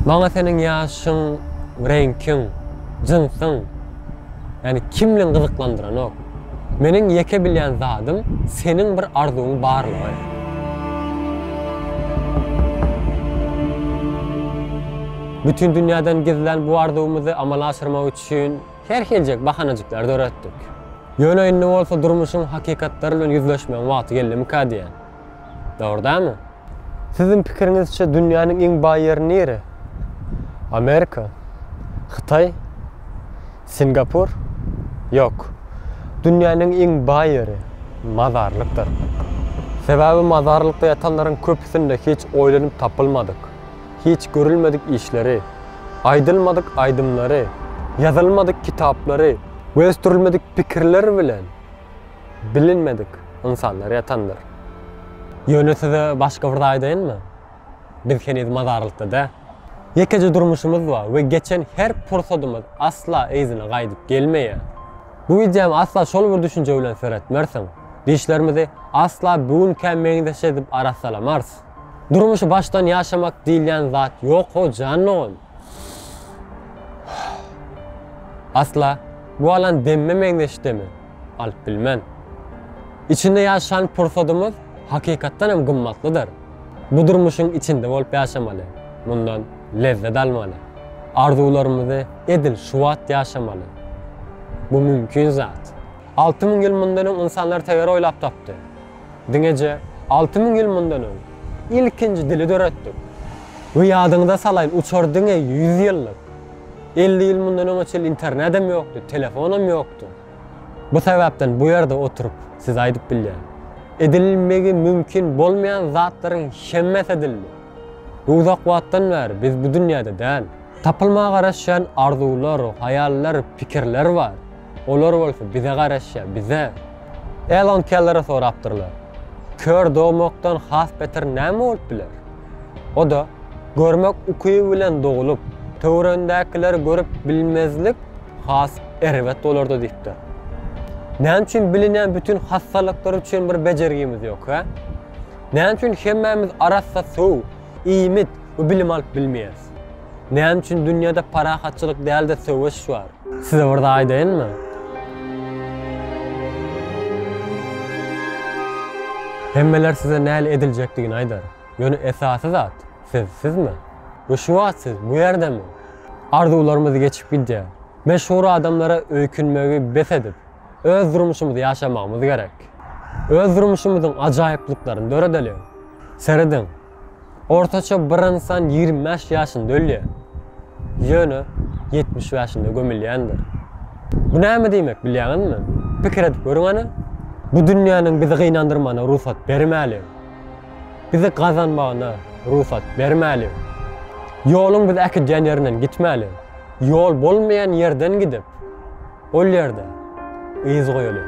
Maňa seniň ýaşyň, reňkiň, jynsyň, ýagny kimligiň gyzyklandyranok. Meniň ýeke bilýän zadym seniň bir arzuwyň barlygy. Bütin dünýäden gizlän bu arzuwymyzy amala aşyrmak üçin her hiljek bahanajyklar döretdik. Ýöne indi bolsa durmuşyň hakykatlary bilen ýüzleşmegiň wagty geldimikä diýýän. Dogry dälmi? Siziň pikiriňizçe dünýäniň iň baý ýeri nire? Amerika? Hytaý? Singapur? Ýok. Dünýäniň iň baý ýeri mazarlykdyr. Sebäbi mazarlykda ýatanlaryň köpüsinde hiç oýlanyp tapylmadyk, hiç görülmedik işleri, aýdylmadyk aýdymlary, ýazylmadyk kitaplary we ösdürilmedik pikirler bilen, Bilinmedik ynsanlar ýatandyr. Ýöne size başga bir zat aýdaýynmy? Biz heniz mazarlykda däl. Ýekeje durmuşymyz bar we geçen her pursadymyz asla yzyna gaýdyp gelmeýär. Bu wideomy asla şol bir düşünje bilen seretmersiň. Dişlerimizi asla bu günkä meňzeş edip arassalamarys. Durmuşy başdan ýaşamak diýilýän zat ýok ho jan dogan. Asla bu alan demme meňzeş deme. alyp bilmen. Içinde ýaşan pursadymyz hakykatdan hem gymmatlydyr. Bu durmuşyň içinde bolup ýaşamaly, mundan lezzet almaly, arzuwlarymyzy edil şu wagt ýaşamaly. Bu mümkin zat. Alty müň ýyl mundan öň ynsanlar teger oýlap tapdy. Diňeje alty müň ýyl mundan öň ilkinji dili döretdik. We ýadyňyza salaýyn uçar diňe ýüz ýyllyk. Elli ýyl mundan öňe çenli internedem ýokdy, telefonam ýokdy. Bu sebäpden bu ýerde oturyp size aýdyp bilýän. Edilmegi mümkin bolmaýan zatlaryň hemmesi edildi. Bu uzak wagtdan bäri biz bu dünýäde däl. Tapylmaga garaşýan arzuwlar, haýallar, pikirler bar. Olar bolsa bize garaşýar, bize. Elon Kellere sorapdyrlar, Kör dogmakdan has beter näme bolup biler? O-da, görmek ukyby bilen dogulyp, töwereňdäkileri görüp bilmezlik has erbet bolardy diýipdir. Näme üçin bilinýän bütin hassalyklar üçin bir bejergimiz ýok, hä? Näme üçin hemmämiz arassa suw, iýmit we bilim alyp bilmeýäris? Näme üçin dünýäde parahatçylyk däl-de söweş bar? Size bir zat aýdaýynmy? Hemmeler size näle ediljekdigini aýdar. Ýöne esasy zat, siz sizmi? We şu wagt siz bu ýerdemi? Arzuwlarymyz geçip gidýär. Meşhur adamlara öýkünmegi bes edip, öz durmuşymyzy ýaşamagymyz gerek. Öz durmuşymyzyň ajaýyplyklaryny döredeliň. Serediň! Ortaça bir ynsan ýigrimi bäş ýaşynda ölýär, ýöne ýetmiş bäşinde gömülýändir. Bu näme diýmek, bilýäňizmi? Pikir edip görüň hany! Bu dünýäniň bizi gynandyrmagyna rugsat bermäliň. Bizi gazanmagyna rugsat bermäliň. Ýoluň bizi äkidýän ýerinden gitmäliň. Ýol bolmaýan ýerden gidip, ol ýerde yz goýalyň.